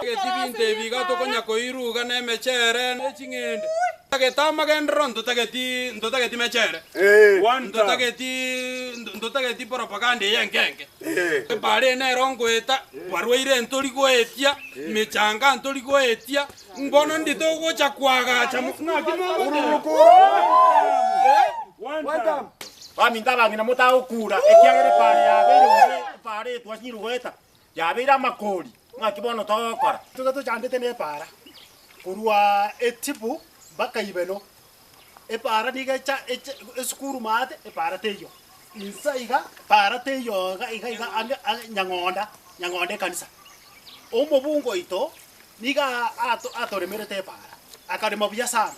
Egetibinto ebi iga tokonya koiruga nemechere ne ching'ende. Ntotageti amagenderero, ntotageti, ntotageti mechere, ntotageti, ntotageti propaganda eye enkenge. Ebare nero ngoeta, barwaire ntori goetia, mechanga ntori goetia, Mbono ndi togocha koagacha mo. Naki mogocha. Baminto abang'ina motagokura, ekiagera epaara yabeire gose epaara etwa chirugueta, yabeire amakoori. Naki bono togokora. Tobe tochandete nepaara korwa etibu mpaka ibeno, epaara niga echa eche esukuru maate, epaara teiyo. Insa iga, epaara teiyo iga iga iga ande ande Nyang'onda, Nyang'onda ekanisa. Omobungo oito niga ato atoremerete epaara, akarema buya sana.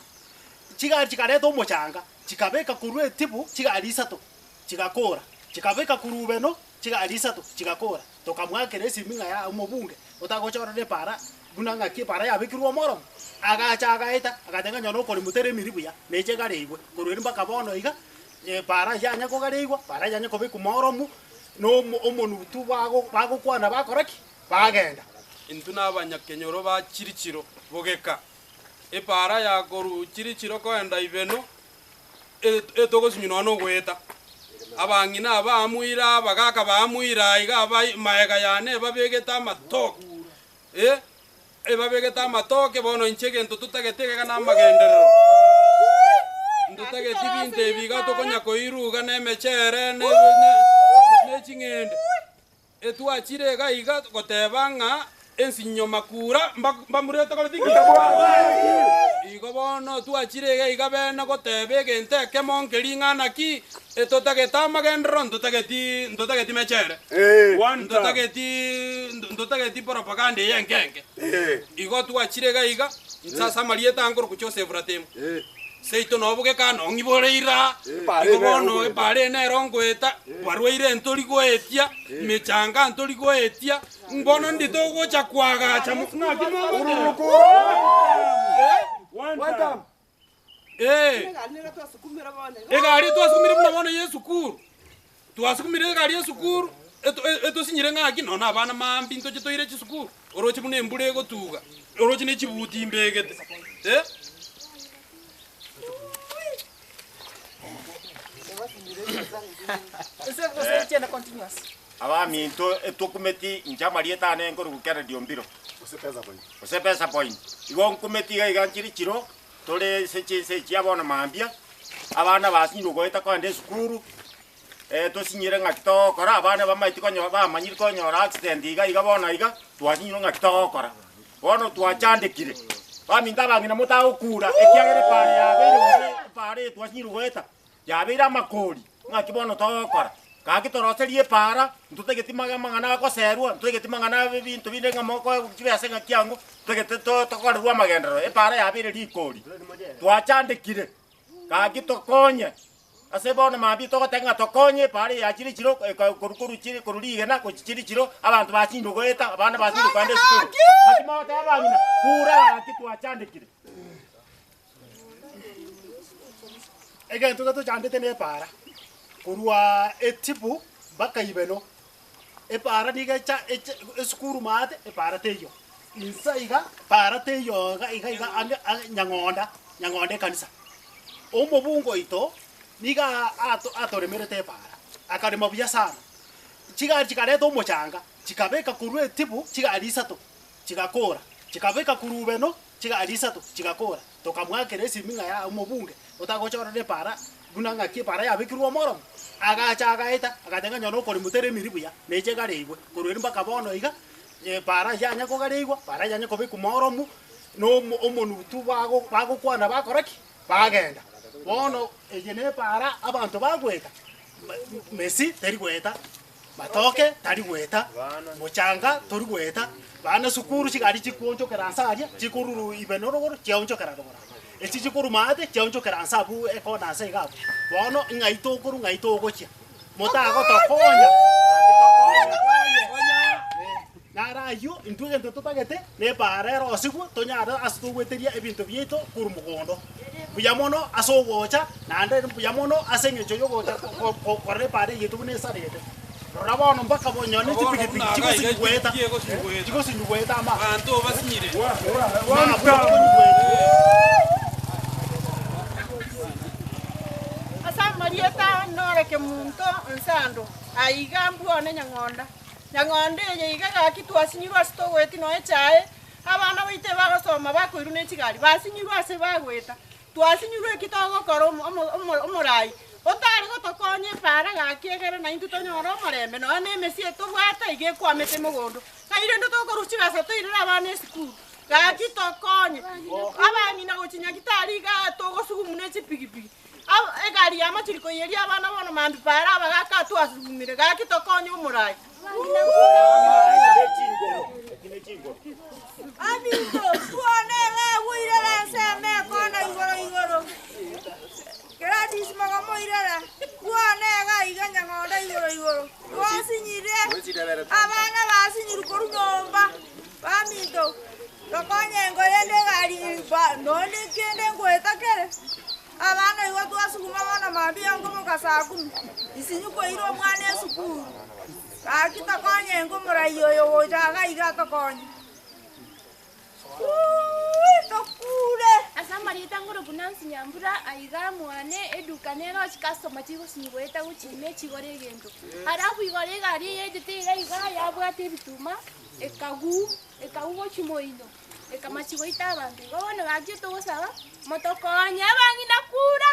Chigari chikareta omochanga, chikabeka korwa etibu chigari isato. chigakora, chikabeka kurubeno chigari isato chigakora. Tokamwakera esimi ng'a ya omobunge otagochorora epaara buna ng'aki epaara yabekirwe omoromo. Agacha agaeta agateba ng'a nyono okoremwa tere emiri buya neche egareigwe korwa eri mpaka bono iga epaara eye yanya kogareigwa epaara eye yanya kobekwa mooromu na omo omonutu bago bagokwana bakora ki? Bagenda. Intwe na abanyakenyoro ba chirichiro bogeka epaara ya korwa chirichiro koenda ibeno. etogosinyunwa nogoeta. Abang'ina aba amoira, abagaaka ba amoira, aiga aba maega yane ebabegete amatoke, eh, ebabegete amatoke, bono inche egento totageti egega namagenderero, ntotageti binto ebi iga tokonya koiruga nemecheere ne ching'ende. Etwachire iga iga goteba ng'a ensinyo makura mbamurete koreti nginya bware. Igo bono twachire iga iga beene goteba egento ekemo nke ring'ana ki, etotagete amagenderero ntotageti ntotageti mechere. Ntotageti ntotageti propaganda eye enke enke. Igo twachire iga iga nse ase amarieta ankoroku Joseph Ratemu. Seito nobo gekano ong'ibore iraa, igo bono ebaare eye nero ngoeta, barwaire ntori goetia, emechanga ntori goetia, mbono ndi togocha koagacha mo- naki momanyete? Ee, egari twasukumire buna bono y'esukuru, Twasukumire egari y'esukuru etosinyire ng'aki, nonya abana maambia intoche toire chisukuru, oroche buna embura egotuga, oroche ne chibuti imbegete. Abaminto etwokumeti inche amarieta aane nkorokwa kera Diombiro, gose Pesa Point. Igo nkumeti iga iga nchire chiro Tore ase chinse echia bono mambia, abana basinyire ogoeta kogenda esukuru, eh, tosinyire ng'aki togokora, abana bamaeti konyo bamanyire konyora accident iga iga bono iga, twasinyirwe ng'aki togokora. Bono twachandekire, baminto abang'ina motagokura ekiagera epaara yabeire gose epaara eye twasinyire goeta. Yabeire amakoori, ng'aki bono togokora? Gaki toroserie epaara, ntotageti amang'ana agoserwa, ntotageti amang'ana abinto binde ng'a mokoe chibesa ng'aki ango, ntotageti tokorerwa amagenderero, epaara yabeire rikoori. Twachandekire, gaki tokonye. Ase bono mambia togoteba ng'a tokonye epaara eye yachire chiro korwa korwa chire korwa rigena gochia chire chiro, abanto basinde goeta, abana basinde kogenda esukuru. Gaki mogoteba abang'ina, kure gaki twachandekire. Egento getochandete nepaara, korwa etibu mpaka ibeno. Epaara niga echa eche esukuru maate, epaara teiyo. Insa iga, epaara teiyo iga iga iga anga anga nyang'onda, nyang'onda ekanisa. Omobungo oito, niga ato atoremerete epaara, akarema buya sana. Chigari chikareta omochanga, chikabeka korwa etibu, chigari isato, chigakora, chikabeka korwa ibeno, Chigari isato chigakora, tokamwakera esiming'a ya omobunge otagochorera epaara, buna ng'aki epaara yabekirwe omoromo. Agacha agaeta, agateba ng'a nyora okori moteremiri buya, neche egareigwe. Korwa erio mpaka bono iga, epaara eyio yanya kogareigwa, epaara eyio yanya kobekwa mooromu, na omo- omonutu bago- bagokwana bakora ki? Bagenda. Bono eye nepaara abanto bagoeta, me- Messi teri goeta. Matoke tari goeta, mochanga tori goeta, bana sukuru chigari chikoonchokera nse aria, chikoruru ibe norogoro, chiaonchokera rogoro abwo. Echi chikoruma aate, chiaonchokera nse abwo ekona nse iga abwo. Bono ng'ai tokorwa, ng'ai togochia? Motagotokonya. Na are ayio intwe egento totagete nebaara ere osigwe, tonyare ase kogweteria ebinto biaito korwa mogondo. Mbuya mono ase ogocha, naende mbuya mono ase engencho y'ogocha korora ebaara eyito buna esarete. Rora bono mpaka bonyo ne chipikipiki chigosinyugweta, chigosinyugweta ama. Abanto basinyire. Ase amarieta noreke monto onse ando, aiga mbwone nyang'onda. Nyang'ondo eye iga gaki twasinyirwe ase togoeti noe echae, abana baito ebagosoma bakoirwa ne chigari, basinyirwe ase bagoeta. Twasinyirwe eki togokora omorai otare gotokonya epaara gaki egere naintwe tonyore omorembe nonya ne emesie tobwate iga ekwamete mogondo. Ng'ai rende tokorwa chibesa toirere abana esukuru gaki tokonye abang'ina gochia Nyagetari igaa togosugumu ne chipigipigi. Aba egari ya machuri koiyeria abana bono mambi paare abagaka atwo asugumire, gaki tokonye omorai. Abinto, twone ng'a bwoirera ense emekona igoro igoro. Gladys moga moirera, twone ng'a iga nyang'onda igoro igoro. Twasinyire, abana basinyirwe korwa nyomba. Baminto, tokonye engo eyende egari eye, nonya kende ngoeta kere. Abana igo twasuguma bono mambia nkomoka saa kumi, isinyi koira omwana esukuru. Gaki tokonye engo morai oyo gocha iga iga atokonye. Tokure. Ase amarieta ngoro buna Nsinyambura aiga mwane eduka nero chikastoma chigosinyi goeta gochia ime chigore egento. Harabu igoro egari eye yaetete iga iga yabwate ebituma. Ekagw, ekagw gochia moino, ekamachi goita abanto igo bono gachia togosaba, motokonye abang'ina kura.